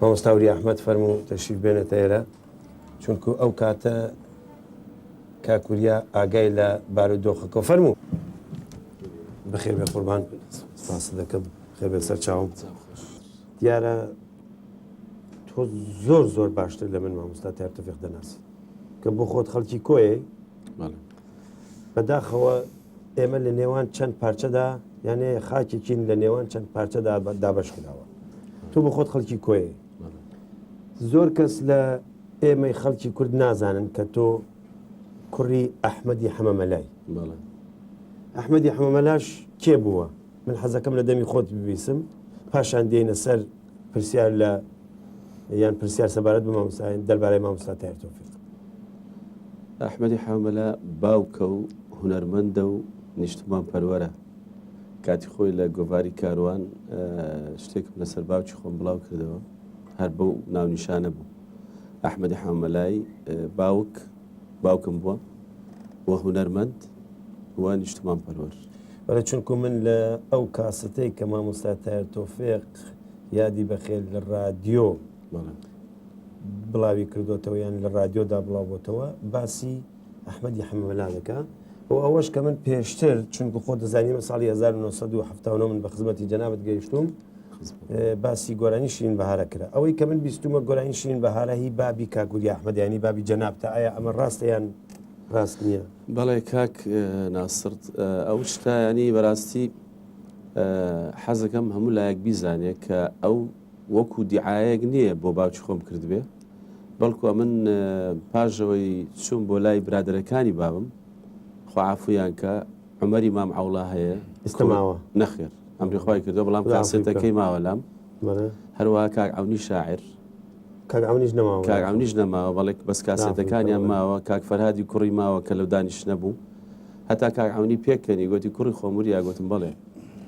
مامۆستا وریا احمد فەرموو تەشریف بێنێتە ئێرە چونکو ئەو کاتە کاک وریا ئاگای لە بارودۆخەکە فەرموو بەخێر بێ قوربان ساس دەکەم خێر بێ سەر چاوم دیارە تۆ زۆر زۆر باشتر لە من مامۆستا تارتەفێق دەناسی کە بۆ خۆت خەڵکی کۆیە بەداخەوە ئێمە لە نێوان چەند پارچەدا یانێ خاکێکین لە نێوان چەند پارچەدا دابش کراوە تۆ بە خۆت خەڵکی کۆی زۆر کەس لە ئێمەی خەڵکی کورد نازانن کە تۆ کوڕی ئەحمەدی حەمەمەلای ئەحمەدی حەمەمەلاش کێ بووە من حەزەکەم لە دەمی خۆت ببیسم پاشان دێنە سەر پرسیار لە یان پرسیار سەبارەت بە مامۆستایان دەربارەی مامۆستا تایر تۆفیق ئەحمەدی حامەلە باوکە و هونەرمەندە و نیشتمان پەروەرە کاتی خۆی لە گۆڤاری کاروان شتێکم لەسەر باوکی خۆم بڵاو کردەوە هەر بەو ناونیشانە بوو ئەحمەدی حامەلای باوک باوکم بووە و هونەرمەند و نیشتمان پەروەر. بەڵێ چونکو من لە ئەو کاسەتەی کە مامۆستا تایر تۆفێق یادی بەخێر لە ڕادیۆ بڵاوی کردوتەوە یان لە ڕادیۆدا بڵاوبتەوە باسی ئەحمەدی حەمەلا دەکە و ئەوەش کە من پێشتر چونکو خۆ دەزانیمە ساڵی 1970 من بە خزمەتی جەنابەت گەیشتوم باسی گۆرانی شین بەهارە کرا ئەوەی کە من بیستومە گۆرانی شین بەهارە هی بابی کاکوری ئەحمەدیانی بابی جەنابتە ئایا ئەمە ڕاستەیان ڕاست نییە بەڵێ کاک ناسرد ئەو شتایانی بەراستی حەزەکەم هەموو لایەک بیزانێت کە ئەو وەکو دیعاەک نییە بۆ باوچ خۆم کردبێ بەڵکو من پاژەوەی چوون بۆ لای برادەرەکانی بابم خوافویان کە عومەری مام عەوڵا هەیە ئێستا ماوە؟ نەخێر ئەمری خوای کردووە بەڵام کاسێتەکەی ماوە لام هەروەها کاک عەونی شاعر کاک عەونیش نەماوە کاک عەونیش نەماوە بەڵێک بەس کاسێتەکانیان ماوە کاک فەرهادی کوڕی ماوە کە لەو دانیش نەبوو هەتا کاک عەونی پێکەنی گوتی کوڕی خۆموریا گوتم بڵێ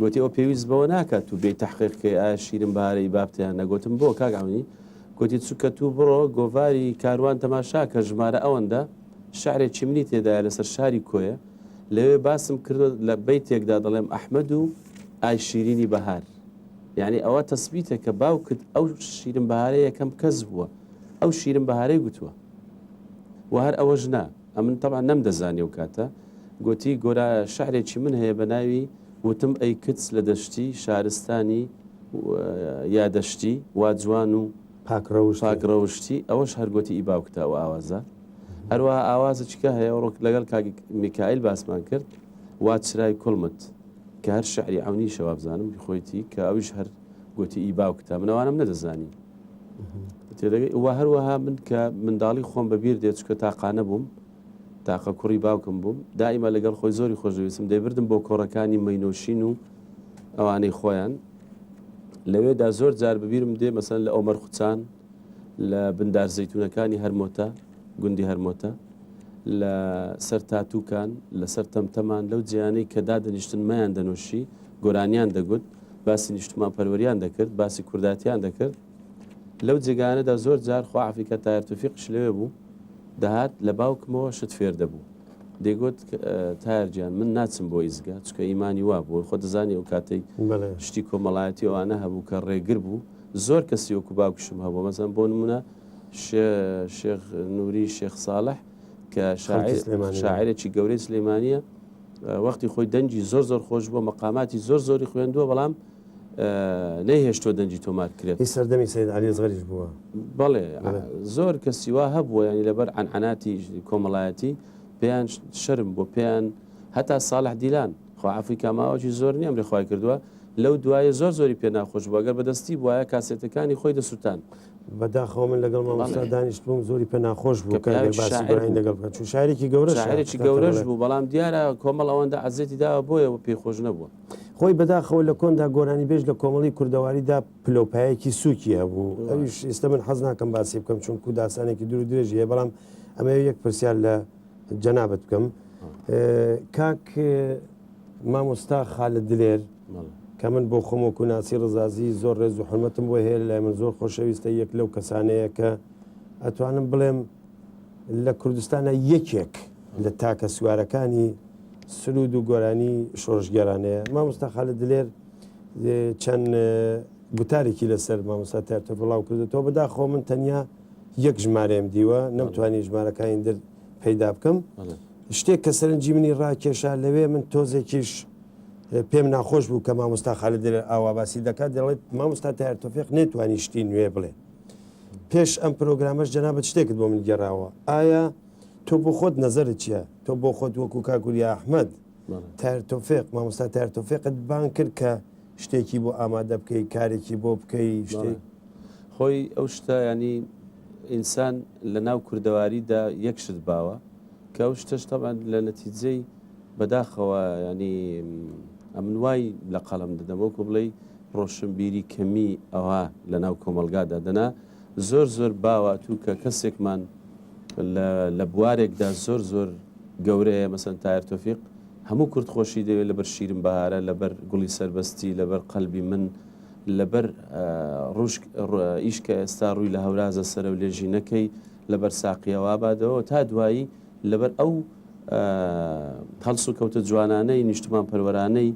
گوتی ئەو پێویست بەوە ناکات و بێ تحقیقکەی ئایا شیرم بارەی بابتیان نەگوتم بۆ کاک عەونی گوتی چووکە تو بڕۆ گۆڤاری کاروان تەماشا کە ژمارە ئەوەندە شعرێکی منی تێدایە لەسەر شاری کۆیە لەوێ باسم کردوە لە بەیتێکدا دەڵێم ئەحمەد و ئای شیرینی بەهار یعنی ئەوە تەسبیتە کە باوکت ئەو شیرن بەهارە یەکەم کەس بووە ئەو شیرن بەهارەی گوتووە و هەر ئەوە ژنا ئەمن تەبا نەم دەزانانی و کاتە گوتی گۆرا شعرێکی من هەیە بە ناوی وتم ئەی کچ لە دەشتی شارستانی یادەشتی وا جوان و پاک ڕەوشت پاک ڕەوشتی ئەوەش هەر گۆتی ئی باوکتە ئەو ئاوازە هەروەها ئاوازە چکە هەیە ڕۆک لەگەڵ کاک میکائیل باسمان کرد وا چرای کوڵمت کە هەر شعری عونی شەوابزانم خۆیتی کە ئەویش هەر گۆتی ئی باوکتە منەوانم نەدەزانی تێدەگەی وە هەروەها من کە منداڵی خۆم بەبیر دێت چکە تاقانە بووم تاقە کوڕی باوکم بووم، دائیما لەگەڵ خۆی زۆری خۆش دەویستم، دەیبردم بۆ کۆڕەکانی مەینۆشین و ئەوانەی خۆیان، لەوێدا زۆر جار بەبیرم دێ مەسەلەن لە ئۆمەر خوچان، لە بن دار زەیتونەکانی هەرمۆتە، گوندی هەرمۆتە، لە سەر تاتووکان، لە سەر تەمتەمان، لەو جێیانەی کە دادەنیشتن مەیان دەنۆشی، گۆرانیان دەگوت، باسی نیشتمان پەروەریان دەکرد، باسی کوردایەتیان دەکرد. لەو جێگایانەدا زۆر جار خوا عەفیکە تایەر تۆفیقیش لەوێ بوو دەهات لە باوکمەوە شت فێر دەبوو دەیگۆت تایەر گیان من ناچم بۆ ئیزگە چکە ئیمانی وا بوو خۆ دەزانی ئەو کاتەی شتی کۆمەڵایەتی ئەوانە هەبوو کە ڕێگر بوو زۆر کەسی وەکو باوکشم هەبوو مەزان بۆ نمونە شێخ نووری شێخ ساڵح کە شاعرێکی گەورەی سلێمانە وەختی خۆی دەنگی زۆر زۆر خۆش بووە مەقاماتی زۆر زۆری خوێندووە بەڵام نەیهێشتووە دەنگی تۆمار کرێت. هی سەردەمی سەید عەلی ئەسغەریش بووە؟ بەڵێ، زۆر کەسی وا هەبووە، یانی لەبەر عەنعەناتی کۆمەڵایەتی پێیان شەرم بوو، پێیان هەتا ساڵح دیلان، خوا عەفوی کا ماوەکی زۆر نییە ئەمری خوای کردووە، لەو دوایە زۆر زۆری پێ ناخۆش بوو، ئەگەر بە دەستی بوایە کاسێتەکانی خۆی دەسووتاند. بە داخەوە من لەگەڵ مامۆستا دانیشتبووم، زۆری پێ ناخۆش بوو کە ئەگەر باسی براین لەگەڵ بکات، چون شاعیرێکی گەورەشە. شاعیرێکی گەورەش بوو، بەڵام دیارە کۆمەڵ ئەوەندە عەزێتی داوە بۆیە پێی خۆش نەبووە. خۆی بەداخەوە لە کۆندا گۆرانیبێژ لە کۆمەڵی کوردەواریدا پلەوپایەکی سووکی هەبوو ئەویش ئێستا من حەز ناکەم باسی بکەم چونکو داستانێکی دوور درێژی هەیە بەڵام ئەمە یەک پرسیار لە جەنابەت بکەم کاک مامۆستا خالە دلێر کە من بۆ خۆمۆکو ناسی ڕزازی زۆر ڕێز و حرمەتم بۆ هەیە لای من زۆر خۆشەویستە یەک لەو کەسانەیە کە ئەتوانم بڵێم لە کوردستانە یەکێک لە تاکە سوارەکانی سرود و گۆرانی شۆڕشگێرانەیە مامۆستا خالد دلێر چەند گوتارێکی لەسەر مامۆستا تارتە بڵاو کردێتەوە بەداخۆ من تەنیا یەک ژمارەم دیوە نەمتوانی ژمارەکانی در پەیدا بکەم شتێک کە سەرنجی منی ڕاکێشا لەوێ من تۆزێکیش پێم ناخۆش بوو کە مامۆستا خالد دلێر ئاوا باسی دەکات دەڵێت مامۆستا تار تۆفێق نێتوانی شتی نوێ بڵێ پێش ئەم پرۆگرامەش جەنابەت شتێکت بۆ من گێراوە ئایا تۆ بۆ خۆت نەزەرت چیە تۆ بۆ خۆت وەکو کاکوریا ئەحمد تار تۆفێق مامۆستا تار تۆفێقت بان کرد کە شتێکی بۆ ئامادە بکەی کارێکی بۆ بکەی شتێک خۆی ئەو شتە ینی ئینسان لە ناو کوردەواریدا یەک شت باوە کە ئەو شتەش تەبان لە نەتیجەی بەداخەوە ینی ئەمن وای لە قەڵم دەدەمەوە کۆ بڵێ ڕۆشنبیری کەمی ئەوە لە ناو کۆمەلگادا دەنا زۆر زۆر باوە توو کە کەسێکمان لە لە بوارێکدا زۆر زۆر گەورەیە مەسەن تایر تۆفیق هەموو کورد خۆشی دەوێت لەبەر شیرم بەهارە لەبەر گوڵی سەربەستی لەبەر قەلبی من لەبەر ڕوشک ئیش کە ئێستا ڕووی لە هەورازە سەرە و لێژی نەکەی لەبەر ساقیەوە بادەوە تا دوایی لەبەر ئەو هەڵس و کەوتە جوانانەی نیشتمان پەروەرانەی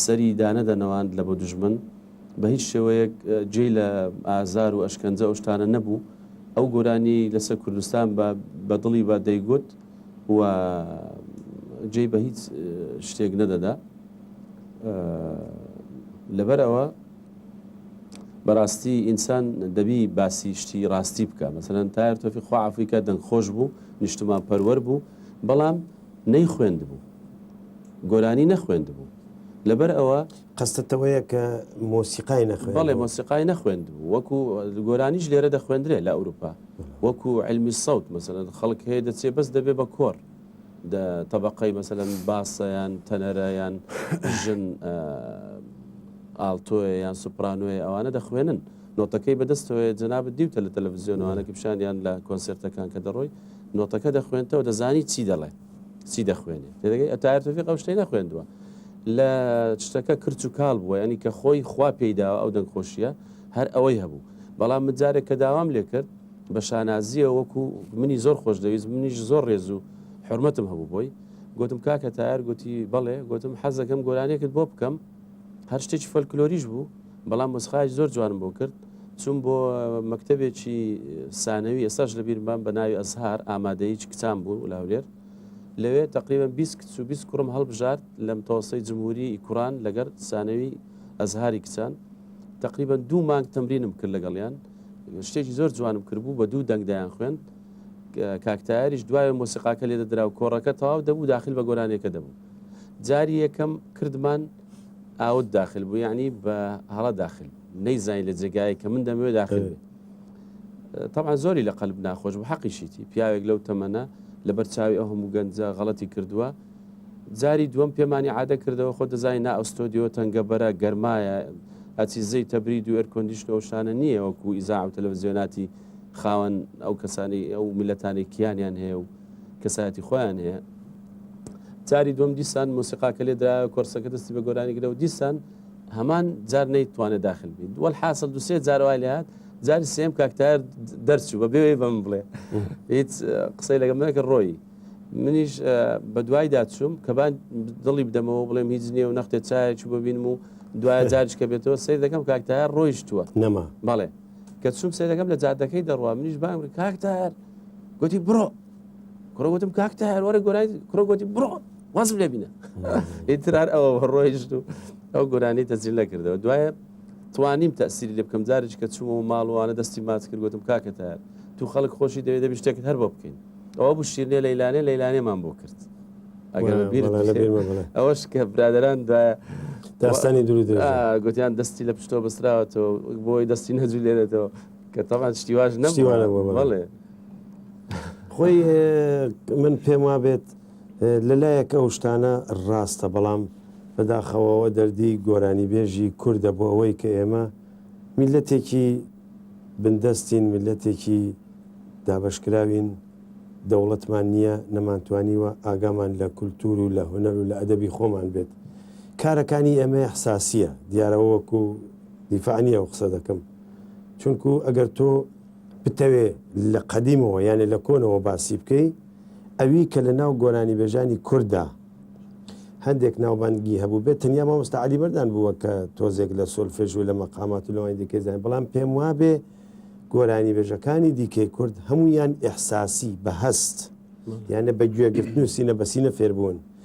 سەری دانەدەنەوەند لە بۆ دژمن بە هیچ شێوەیەک جێی لە ئازار و ئەشکەنجە و شتانە نەبوو ئەو گۆرانی لەسەر کوردستان بە بە دڵی بە دەیگوت و جێی بە هیچ شتێک نەدەدا لەبەرەوە بەڕاستی ئینسان دەبی باسی شتی ڕاستی بکە مەسەرەن تایر تۆفی خواعافیکە دەنگ خۆش بوو نیشتمان پەروەەر بوو بەڵام نەی خوێند بوو گۆرانی نەخوێند بوو لەبەر ئەوە قەستت ئەوەیە کە مۆسیقای نەخوێندبوو؟ بەڵێ مۆسیقای نەخوێندبوو، وەکو گۆرانیش لێرە دەخوێندرێ لە ئەوروپا وەکو علمی سەوت مەسەلەن خەڵک هەیە دەچێ بەس دەبێ بە کۆڕ دە تەبەقەی مەسەلەن باسە یان تەنەرە یان ژن ئالتۆیە یان سوپرانۆیە ئەوانە دەخوێنن نۆتەکەی بەدەستەوەی جەنابەت دیوتە لە تەلەڤزیۆنوانە کە پیشانیان لە کۆنسرتەکان کە دەڕۆی نۆتەکە دەخوێنتەوە دەزانی چی دەڵێت چی دەخوێنێ تێدەگەی ئەتایر تۆفیق ئەو شتەی نەخوێندووە لە شتەکە کرچ و کاڵ بووە ینی کە خۆی خوا پێیداوە ئەو دەنگ خۆشیە هەر ئەوەی هەبوو بەڵام مجارێک کە داوام لێ کرد بە شانازیە وەکو منی زۆر خۆش دەویست منیش زۆر ڕێز و حرمەتم هەبوو بۆی گوتم کاکە تایر گوتی بەڵێ گوتم حەزەکەم گۆرانێکت بۆ بکەم هەر شتێکی فەلکلۆریش بوو بەڵام مەسخای زۆر جوانم بۆ کرد چون بۆ مەکتتەبێکی سانەوی ئێستاش لە بیرمان بە ناوی ئەزهار ئامادەیی کچان بوو و لاولێر لەوێ تقریبا 20 کچ و 20 کوڕم هەڵبژارد لەم تەوەسەی جمهوری کوڕان لەگەر سانەوی ئەزهاری کچان تقریبا دوو مانگ تەمرینم کرد لەگەڵیان شتێکی زۆر جوانم کردبوو بە دوو دەنگدایان خوێن کاکتایریش دوای مۆسیقاکە لێ دەدرا و کۆڕەکە تەواو دەبوو داخل بە گۆرانێکە دەبوو جاری یەکەم کردمان ئاوت داخل بوو یعنی بە هەڵە داخل نەیزانین لە جێگای کە من دەمەوێ داخل تەمان زۆری لە قەلب ناخۆش بە حەقیشیتی پیاوێک لەو تەمەە لە بەرچاوی ئەو هەموو گەنجە غەڵەتی کردووە جاری دووەم پێمانی عادە کردەوە خۆ دەزای نا ئەستۆدیۆ تەنگە بەرە گەرمایە ئەچی زەی تەبری دو ئەرکۆندیشن ئەوشانە نییە وەکو ئیزا و تەلەڤزیۆناتی خاوەن ئەو کەسانی ئەو میلەتانی کیانیان هەیە و کەسایەتی خۆیان هەیە جاری دوم دیسان مۆسیقاکە لێ درا کۆرسەکە دەستی بە گۆرانی گرەوە دیسان هەمان جار نەیتوانێت داخل بین دووەل حاصل دوسێ جاروای لات جاری سێم کاکتار دەرچوو بە بێوەی بەم بڵێ هیچ قسەی لەگەم نەکە ڕۆی منیش بە دوای داچوم کە بان دڵی بدەمەوە بڵێم هیچ نییە و نەختێ چایەکی ببینم و دوای جارش کە بێتەوە سیر دەکەم کاکتار ڕۆیشتووە نەما بەڵێ کە چووم سەیرەکەم لە جادەکەی دەڕوا منیش بانگ کاک تار گوتی بڕۆ کوڕە گوتم کاک تار وەرە گۆرای کوڕە گوتی بڕۆ وازم لێ بینە ئیترار ئەوە ڕۆیشت و ئەو گۆرانی تەجیل نەکردەوە دوایە توانیم تەسیری لێ بکەم جارێک کە چوومەوە ماڵوانە دەستی ماچ کرد گوتم کاکە تار تو خەڵک خۆشی دەوێت دەبی شتێکت هەر بۆ بکەین ئەوە بوو شیرنێ لەیلانێ لەیلانێمان بۆ کرد ئەگەر ئەوەش کە برادران دوایە داستانی دروی گوتیان دەستی لە پشتۆ بەسراوەتەوە بۆی دەستی نەجوو لێرێتەوە کە تەمان شتیواش نەشتیوانە بڵێ خۆی من پێم وا بێت لەلایەک ئەو شتانە ڕاستە بەڵام بەداخەوەەوە دەردی گۆرانی بێژی کووردە بۆ ئەوەی کە ئێمە میللەتێکی بندەستین، میللەتێکی دابەشکراوین، دەوڵەتمان نییە، نەمانتوانیوە ئاگامان لە کولتوور و لە هونەر و لە ئەدەبی خۆمان بێت. کارەکانی ئێمە ئیحساسییە، دیارە وەکو دیفاع نییە ئەو قسە دەکەم، چونکو ئەگەر تۆ بتەوێ لە قەدیمەوە یانێ لە کۆنەوە باسی بکەی، ئەوی کە لەناو گۆرانیبێژانی کورددا، هەندێک ناوبانگی هەبوو بێت تەنیا مامۆستا علی بەردان بووە کە تۆزێک لە سۆلفێژ و لە مەقامات و لەوانی دیکەی زانین بەڵام پێم وابێ گۆرانی بێژەکانی دیکەی کورد هەمویان ئیحساسی بە هەست یانە بە گوێگرتن و سینە بەسینە فێربوون